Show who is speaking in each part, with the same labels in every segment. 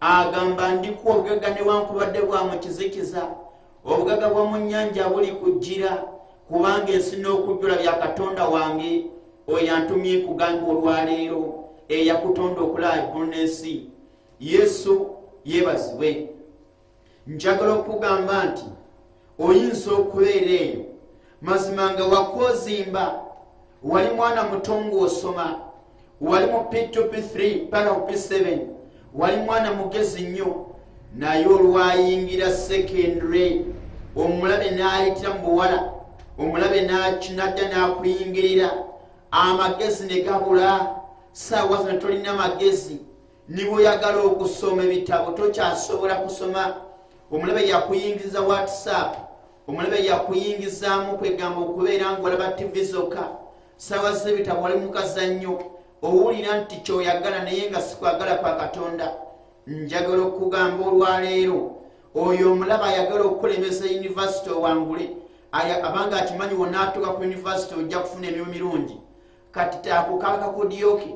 Speaker 1: agamba ndi ku obugaga newankubadde bwa mu kizikiza obugaga bwa mu nnyanja buli kujjira kubanga ensi n'okujjula bya katonda wange oyo antumye kugamba olwaleero eyakutonda okulaba eggulu n'ensi yesu yeebazibwe njagala okukugamba nti oyinza okubeera eyo mazima nga wakwozimba wali mwana muto ngaosoma wali mu p2p3 paka ku p7 wali mwana mugezi nnyo naye olwayingira secondary omulabe n'ayitira mu buwala omulabe nadda n'akuyingirira amagezi ne gabula saawa zino tolina magezi niboyagala okusoma ebitabo tokyasobola kusoma omulabe yakuyingiza whatsapp omulabe yakuyingizaamu kwegamba okubeera ngaolaba tivi zokka sawa zebitabo wali mukazannyo owulira nti kyoyagala naye nga sikwagala kwa katonda njagala okugamba olwaleero oyo omulaba ayagala okukulemesa univesity owangule abanga akimanyi wonaatuka ku univesity ojja kufuna emirimu mirungi kati taakukakakudyoke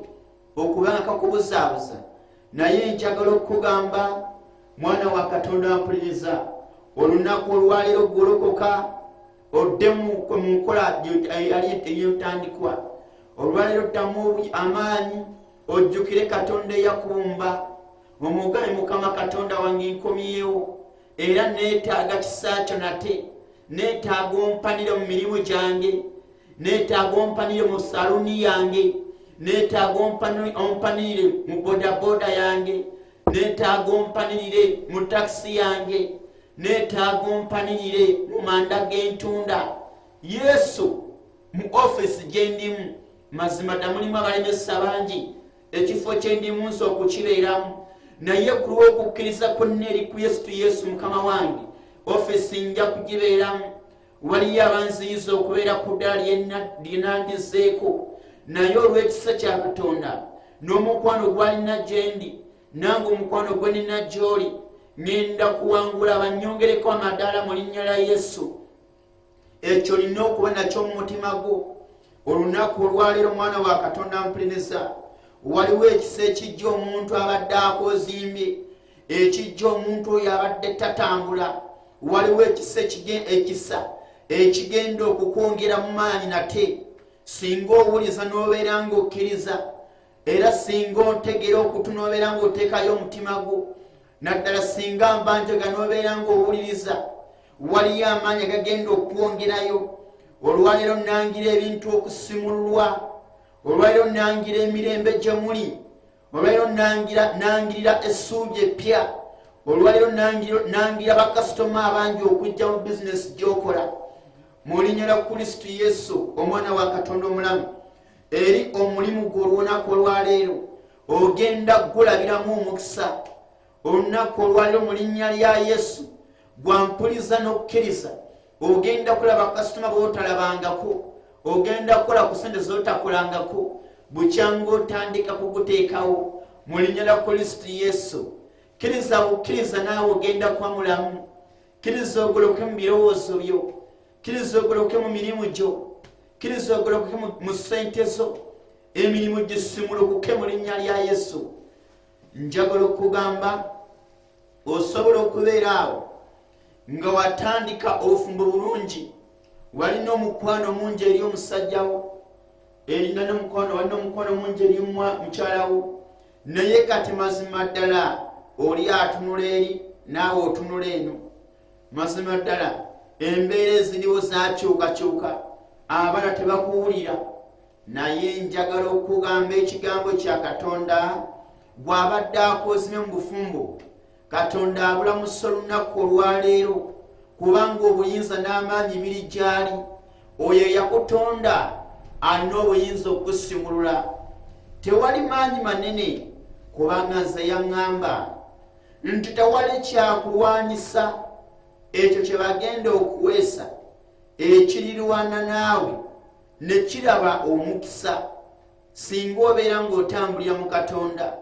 Speaker 1: okubanka kubuzaabuza naye njagala okukugamba mwana wa katonda ampuliriza olunaku olwaliro golokoka oddemu mu nkola eyotandikwa olwaliro ddamu amaanyi ojjukire katonda eyakumba omugaye mukama katonda wange nkomyewo era neetaaga kisa kyo nate neetaaga ompanire mu mirimu gyange neetaaga ompanire mu saluni yange neetaaga ompanire mu bodaboda yange neetaaga ompanirire mu takisi yange neetaaga ompanirire mu manda g'entunda yesu mu ofisi gye ndimu mazima ddamulimu abalemesa bangi ekifo kyendimunsi okukibeeramu naye ku lw'okukkiriza kwonna eri ku yesu tu yesu mukama wange ofisi nja kugibeeramu waliyo abanziyiza okubeera ku ddala lyenandizeeko naye olw'ekisa kya katonda n'omukwano gwalina gyendi nange omukwano gwe nina gy'oli ŋenda kuwangula banyongereko amadaala mu linnya lya yesu ekyo olina okuba nakyo mu mutima gwo olunaku olwaleero omwana wa katonda mpuliriza waliwo ekisa ekijja omuntu abadde akozimbye ekijja omuntu oyo abadde tatambula waliwo ekisa ekisa ekigenda okukwongera mu maanyi nate singa owuliza n'obeera ng'okkiriza era singa ontegera okutunobeera ngaoteekayo omutima gwo naddala singa mba ntega nobeera ngaowuliriza waliyo amaanyi agagenda okwongerayo olwaleero nangira ebintu okusimulwa olwaleero nangira emirembe gye muli olwaleero nangirira essuubi eppya olwaleero nangira bakasitoma abangi okujja mu bizinesi gyokola mulinyala kristu yesu omwana wa katonda omulamu eri omulimu gwe olunaku olwaleero ogenda kugulabiramu omukisa olunaku olwaleero mu linnya lya yesu gwampuliza n'okukkiriza ogenda kulaba kasitoma bootalabangako ogenda kukola ku sente zotakolangako bukyanga otandika kuguteekawo mu linnya lya kristo yesu kkiriza bukkiriza naawe ogenda kwamulamu kkiriza ogoloke mu birowoozo byo kiriza ogoloke mu mirimu gyo kiriza ogoloke mu sente zo emirimu gisimulukuke mu linnya lya yesu njagala okugamba osobola okubeera awo nga watandika obufumbo bulungi walina omukwano omungi eri omusajjawo erina nomukwano walina omukwano omungi eri mukyalawo naye kati mazima ddala oli atunula eri naawe otunula eno mazima ddala embeera eziriwo zakyukakyuka abana tebakuwulira naye njagala okugamba ekigambo kya katonda gw'abadde akozime mu bufumbo katonda abulamusa olunaku olwaleero kubanga obuyinza n'amaanyi biri gyali oyo eyakutonda alina obuyinza okukusimulula tewali maanyi manene kubanga nze yaŋŋamba nti tewali kyakulwanyisa ekyo kye bagenda okuweesa ekirirwana naawe ne kiraba omukisa singa obeera ng'otambulira mu katonda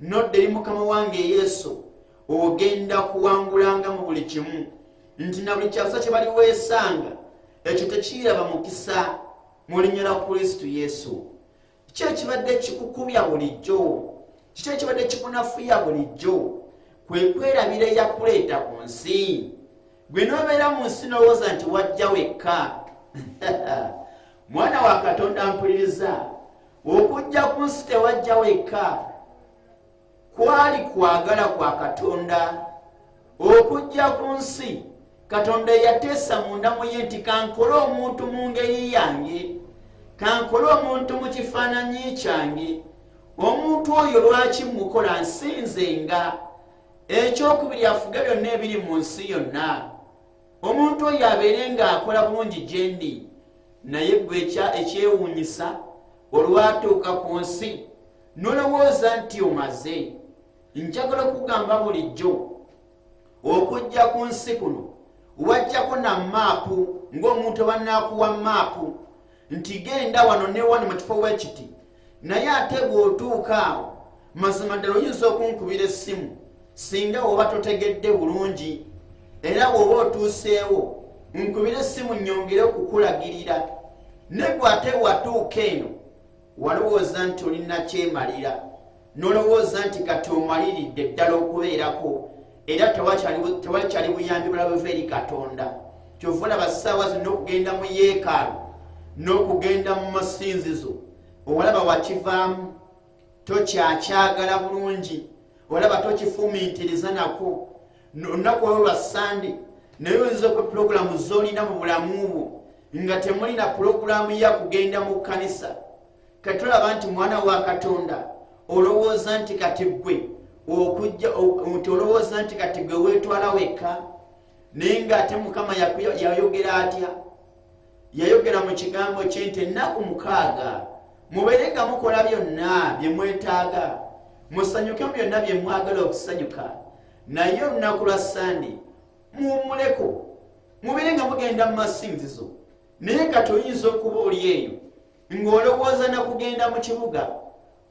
Speaker 1: nodda eri mukama wange yesu ogenda kuwangulanga mu buli kimu nti na buli kyakusa kye baliweesanga ekyo tekiyiraba mukisa mu linnya lya kristu yesu kiki ekibadde kikukumya bulijjo kiki ekibadde kikunafuya bulijjo kwe kwerabira eyakuleeta ku nsi gwe nobeera mu nsi nowooza nti wajja wekka mwana wa katonda mpuliriza okujja ku nsi tewajja wekka kwali kwagala kwa katonda okujja ku nsi katonda eyateesa mundamu ye nti kankole omuntu mu ngeri yange kankole omuntu mu kifaananyi kyange omuntu oyo lwaki mukola nsinze nga ekyokubiri afuge byonna ebiri mu nsi yonna omuntu oyo abeere ng'akola bulungi gye ndi naye gwe ekyewuunyisa olwatuuka ku nsi nolowooza nti omaze njagala okugamba bulijjo okujja ku nsi kuno wajjako na maapu ng'omuntu abanaakuwa maapu nti genda wano newano mu kifo wekiti naye ate bw'otuuka awo mazima ddala oyinza okunkubira essimu singa oba totegedde bulungi era bw'oba otuuseewo nkubira essimu nnyongere okukulagirira negwe ate watuuka eno walowooza nti olina kyemalira nolowooza nti kati omaliridde ddala okubeerako era tewali kyali buyambi bulala buva eri katonda kyova olaba ssaawa zina okugenda mu yeekaalu n'okugenda mu masinzizo olaba wakivaamu tokyakyagala bulungi olaba tokifumiitiriza nako olunaku olwo lwa sande naye oyinza okwe pulogulaamu zolina mu bulamu bwo nga temulina pulogulaamu ya kugenda mu kkanisa katulaba nti mwana wa katonda olowooza nti kati gwe okujja nti olowooza nti kati gwe weetwala wekka naye ngaate mukama yayogera atya yayogera mu kigambo kye nti ennaku mukaaga mubeere nga mukola byonna bye mwetaaga musanyuke mu byonna bye mwagala okusanyuka naye olunaku lwa sande muwummuleko mubeere nga mugenda mu masinzizo naye kati oyinza okuba oli eyo ng'olowooza na kugenda mu kibuga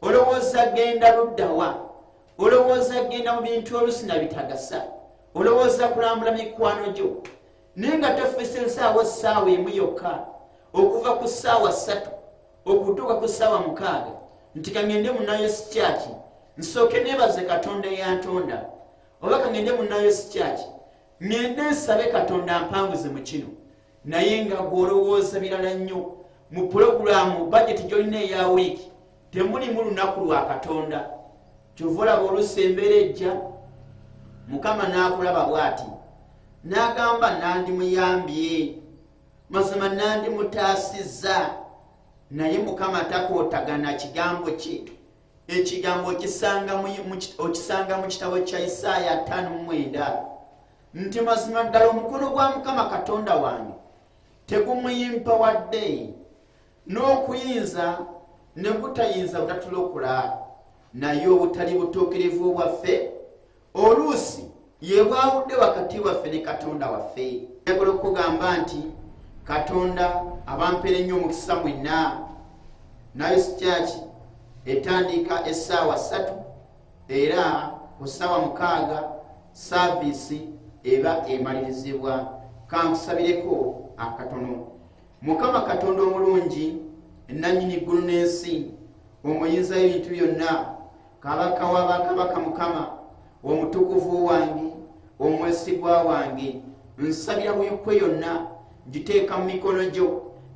Speaker 1: olowooza genda luddawa olowooza genda mu bintu olusi na bitagasa olowooza kulambula mikwano gyo naye nga tofisa ensaawa essaawa emu yokka okuva ku ssaawa ssatu okutuuka ku ssaawa mukaaga nti kangende munayo sikyaki nsooke nebaze katonda eyantonda oba kangende munayo sikyaki ŋŋende nsabe katonda ampanguze mu kino naye nga gw'olowooza birala nnyo mu pulogulaamu bajeti gy'olina eya wiiki temulimu lunaku lwa katonda kyova olaba oluusi embeera ejja mukama n'akulaba bw'ati n'agamba nandimuyambye mazima nandimutaasizza naye mukama takootagana kigambo kye ekigambo okisanga mu kitabo kya isaaya 59 nti mazima ddala omukono gwa mukama katonda wange tegumuyimpa wadde n'okuyinza ne gutayinza butatulokula naye obutali butuukirivu bwaffe oluusi yebwawudde wakati waffe ne katonda waffe yagola okugamba nti katonda abampere nnyo omukisa mwenna nayo sikyaki etandika essaawa ssatu era ku ssaawa mukaaga saaviisi eba emalirizibwa kankusabireko akatono mukama katonda omulungi nanyini ggulu n'ensi omuyinzayo ebintu byonna kabaka wa bakabaka mukama omutukuvu wange omwesigwa wange nsabira buyukwe yonna ngiteeka mu mikono gyo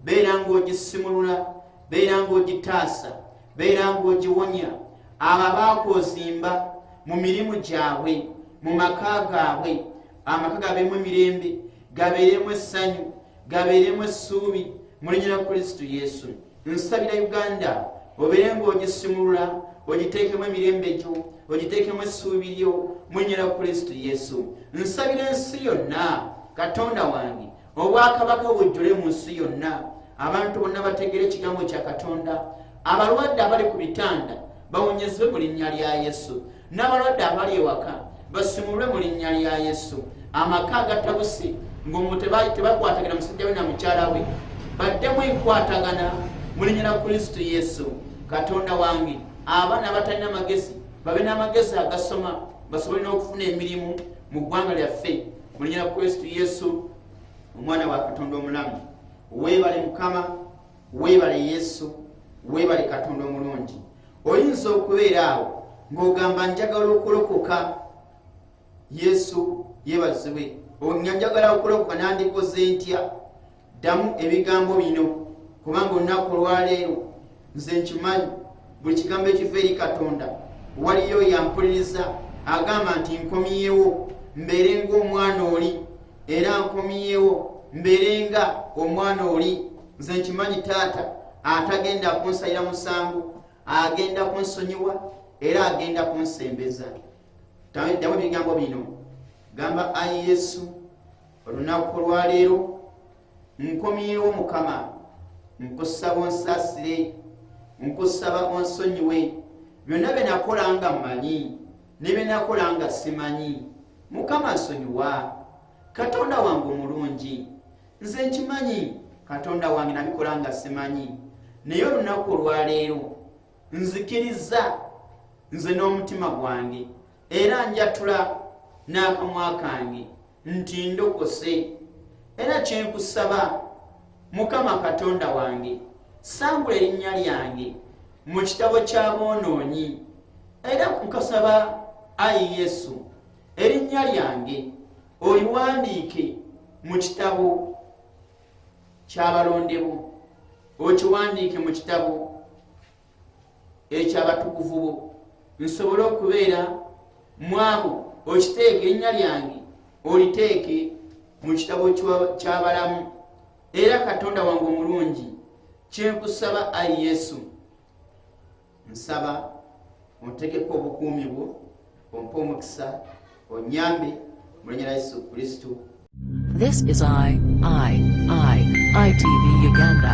Speaker 1: beera ng'ogisimulula beera ng'ogitaasa beera ng'ogiwonya abo abaakwozimba mu mirimu gyabwe mu maka gaabwe amaka gabeemu emirembe gabeeremu essanyu gabeeremu essuubi mulinyira kristo yesu nsabira uganda obeere ng'ogisimulula ogiteekemu emirembe gyo ogiteekemu essuubi lyo munyera kristo yesu nsabira ensi yonna katonda wange obwakabaka bujjule mu nsi yonna abantu bonna bategeera ekigambo kya katonda abalwadde abali ku bitanda bawonyezebwe mu linnya lya yesu n'abalwadde abali ewaka basimulwe mu linnya lya yesu amaka agatabusi ngaomu tebakwatagana musajja we na mukyala we baddemu enkwatagana mu linnya lya kristo yesu katonda wange abaana abatalina amagezi babe n'amagezi agasoma basobole n'okufuna emirimu mu ggwanga lyaffe mu linnya lya kristo yesu omwana wa katonda omulamu weebale mukama webale yesu webale katonda omulungi oyinza okubeera awo ng'ogamba njagala okulokoka yesu yebazibwe nga njagala okulokoka nandikoze ntya ddamu ebigambo bino kubanga olunaku olwaleero nze nkimanyi buli kigambo ekiva eri katonda waliyo yampuliriza agamba nti nkomyewo mbeere ngaomwana oli era nkomyewo mbeere nga omwana oli nze nkimanyi taata atagenda kunsalira musango agenda kunsonyiwa era agenda kunsembeza damu ebigambo bino gamba ayi yesu olunaku olwaleero nkomyewo mukama nkusaba onsasire nkusaba onsonyiwe byonna byenakola nga mmanyi ne byenakola nga simanyi mukama nsonyiwa katonda wange omulungi nze nkimanyi katonda wange nabikola nga simanyi naye olunaku olwaleero nzikiriza nze n'omutima gwange era njatula n'akamwa kange nti ndokose era kyenkusaba mukama katonda wange sangula erinnya lyange mu kitabo ky'aboonoonyi era nkasaba ayi yesu erinnya lyange oliwandiike mu kitabo kyabalondebo okiwandiike mu kitabo ekyabatukuvu bo nsobole okubeera mwabo okiteeke ennya lyange oliteeke mu kitabo kyabalamu era katonda wange omulungi kyenkusaba ayi yesu nsaba ontegeko obukuumi bwo ompe omukisa onyambe mulinyera yesu kristu
Speaker 2: This is I, I,
Speaker 1: I,
Speaker 2: ITV Uganda.